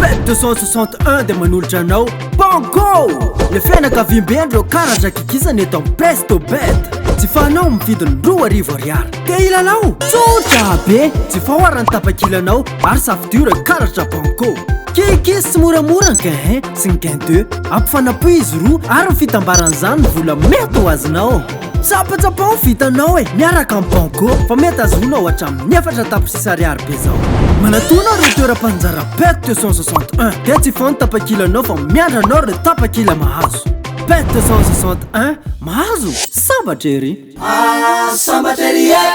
Pet 261 dia manolotra anao Banco! Le fianakaviambe ndreo kara zakikisa ny eto am Pesto Bet. Tsy fanao amin'ny vidiny roa arivo ariary. Te hilalao? Tsotra be! Tsy fahoara ny tapakilanao ary safidio ireo karatra Banco. Kikis sy moramora ny gain 1 sy ny gain 2. Ampy fanapoihy izy roa ary ny fitambaran'izany ny vola mety ho azonao. Tsapatsapa ho vitanao e, miaraka amin'ny Banco fa mety azonao hatramin'ny efatra tapitrisa ariary be zao. Manatona ireo toeram-panjara PET 261 dia tsy foana tapakilanao fa miandry anao ireo tapakila mahazo. PET 261, mahazo? Sambatra ery! Ah, sambatra ery e!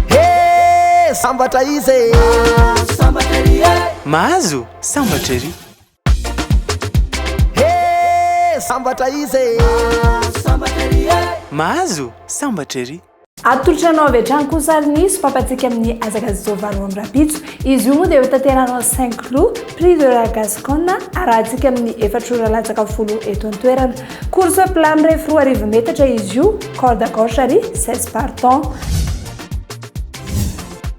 Hee, sambatra iza e! Ah, sambatra ery e! Mahazo? Sambatra ery! Hee sambatra izy e! Mahazo sambatra ery e! Mahazo sambatra ery! Atolotra anao avy hatrany koa sary nisy fampatsiaka amin'ny hazakazaka izao valo amby rahampitso. Izy io moa dia hotanterahana ao Saint Cloud, Prix de la Gasconne, arahantsika amin'ny efatra ora latsaka folo eto an-toerana. Course plat mirefy roa arivo metatra izy io, corde à gauche ary seize partants.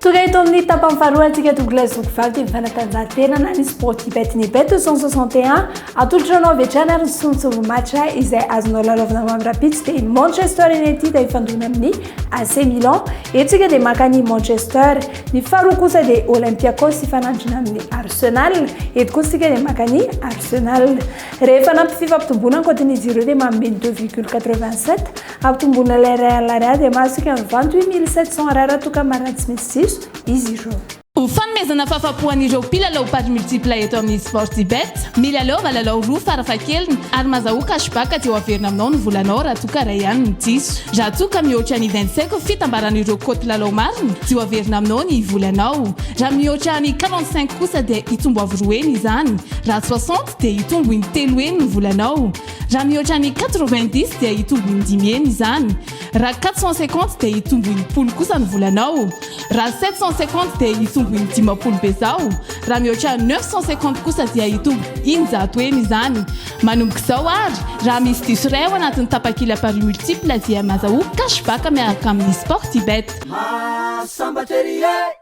Tonga eto amin'ny tapany faharoa antsika Douglas Zokivaky ny fanatanjahantena na ny sport ibet ny bet 161 atolotra anao avy hatrany ary ny solontsongo match izay azonao lalaovina mamy rapitsy dia ny Manchester United hifandona amin'ny AC Milan eto tsika dia maka ny Manchester ny faharoa kosa dia Olympiakos hifanandrina amin'ny Arsenal eto kosa tsika dia maka ny Arsenal rehefa nampy fifampitomboana ankoatin'izy ireo dia manome ny 2,87 Hampitomboana ilay iray alina Ar dia mahazo toky mivanty hoe mille sept cents Ar toka marina tsy misy diso izy ireo. Ho fanomezana fahafapo an'ireo mpilalao paris multiple eto amin'ny Sportybet, milalaova lalao roa farafahakeliny ary mazahoa cashback dia ho averina aminao ny volanao raha toa ka iray ihany no diso. Raha toa ka mihoatra ny vingt cinq fitambaran'ireo cote lalao marina dia ho averina aminao ny volanao. Raha mihoatra ny quarante cinq kosa dia hitombo avo roa heny izany. Raha soixante dia hitombo in telo heny ny volanao. Raha mihoatra ny quatre-vingt-dix dia hitombo indimy heny izany. Raha quatre cent cinquante dia hitombo enimpolo kosa ny volanao. Raha sept cent cinquante dia hitombo indimampolo bezao. Raha mihoatra neuf cent cinquante kosa dia hitombo in-jato heny izany. Manomboka izao ary, raha misy diso iray ao anatin'ny tapakila paris multiple dia mazahoa cash back miaraka amin'ny Sportybet. Maha sambatra ery e!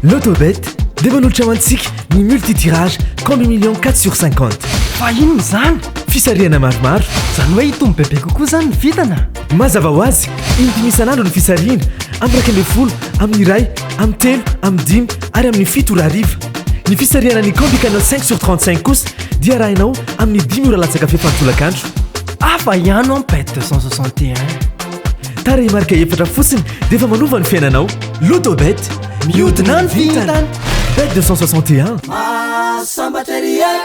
Lotobet dia manolotra ho antsika ny multitirage combi million 4 sur 50. Fa inona izany? Fisarihana maromaro. Izany hoe hitombo bebe kokoa izany ny vintana? Mazava ho azy, in-dimy isan'andro ny fisarihana, amin'ny iraika ambin'ny folo, amin'ny iray, amin'ny telo, amin'ny dimy ary amin'ny fito ora hariva. Ny fisarihana ny combi canal 5 sur 35 kosa dia arahinao amin'ny dimy ora latsaka fefan-tolakandro. Hafa ihany an bet 261. Tarehimarika efatra fotsiny dia efa manova ny fiainanao. Lotobet, mihodina ny vintana. Bet 261. Sambatra ry e.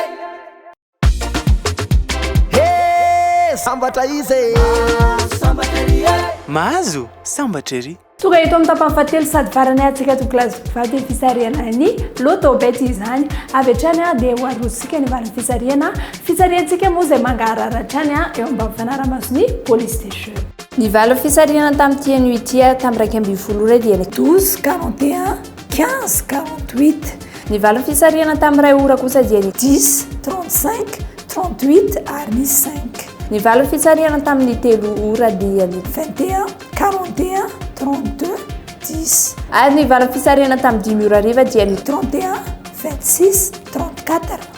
Hey, sambatra izy e. Sambatra ry e. Mahazo sambatra ery. Tonga eto amin'ny tapany fahatelo sady farany antsika to class vady ny fisarihana ny Lotobet izany. Avy hatrany dia ho arosika ny valin'ny fisarihana. Fitsariantsika moa izay mangaharara hatrany eo ambany fanaraha-mason'ny police des jeux. Ny valo fitsarihana tamin'ity anio ity ary tamin'ny iraika ambin'ny folo ora dia ny. Douze, quarante et un, quinze, quarante huit. Ny valo fitsarihana tamin'ny iray ora kosa dia ny. Dix, trente cinq, trente huit ary ny cinq. Ny valo fitsarihana tamin'ny telo ora dia ny. Vingt et un, quarante et un, trente deux, dix. Ary ny valo fitsarihana tamin'ny dimy ora hariva dia ny. Trente et un, vingt six, trente quatre.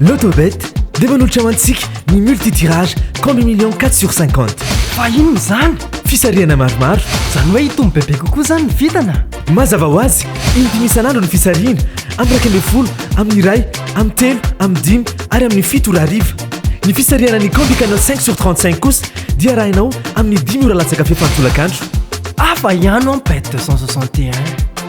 Lotobet dia manolotra ho antsika ny multi-tirage compte million quatre sur cinquante. Fa inona izany? Fisarihana maromaro. Izany hoe hitombo bebe kokoa izany ny vintana? Mazava ho azy, in-dimy isan'andro ny fisarihana, amin'ny iraika ambin'ny folo, amin'ny iray, amin'ny telo, amin'ny dimy ary amin'ny fito ora hariva. Ny fisarihana ny Combi Canal cinq sur trente cinq kosa dia arahinao amin'ny dimy ora latsaka fepany tolakandro. Hafa ihany an bet deux cent soixante et un.